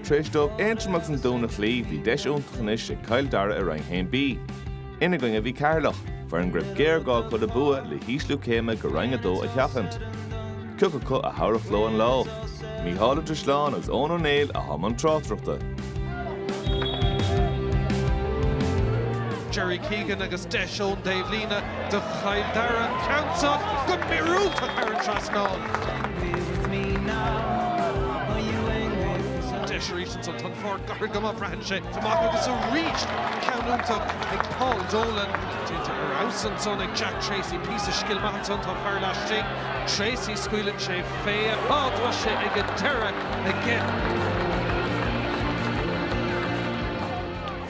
Tar éis dóibh Aontroim agus an Dún a chloí, bhí deis iontach anois ag Cill Dara i Roinn 1B. Ina gcoinne a bhí Ceatharlach, foireann go raibh géarghá acu le bua le hísliú céime go Roinn 2 a sheachaint. Cé acu a thabharfadh leo an lá. Micheál Ó Drisleáin agus Eoghan Ó Néill atá i mbun tráchtaireachta. Gerry Keegan agus deis ón taobhlíne. do Chill Dara an ceann san go míorúilteach thar an trasnán. Deis arís ansan. Tá an pháirc gairid go maith. Braitheann sé amach agus arís ceann iontach ag Paul Dolan. Déanta ar fheabhas ansan ag Jack Treacy. Píosa scil maith ansan. Tá fear laistigh. Treacy, scaoileann sé fé. Á, tá sé ag an deireadh aige.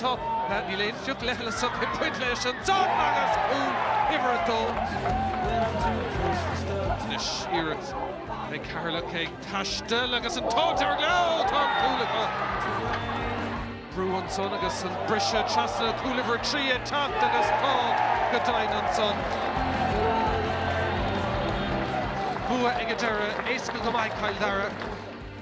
Tá, níl aon phioc leithleasach ag baint leis ansan agus cúl uimhir 2 anois. Iarracht ag Ceatharlach ag taisteal agus an t-ádh dearg leo, tá an cúl acu! Brú ansan agus an briseadh trasna, cúl uimhir 3 ag teacht agus tá go deimhin ansan. Bua ag an deireadh, éasca go maith ag Cill Dara.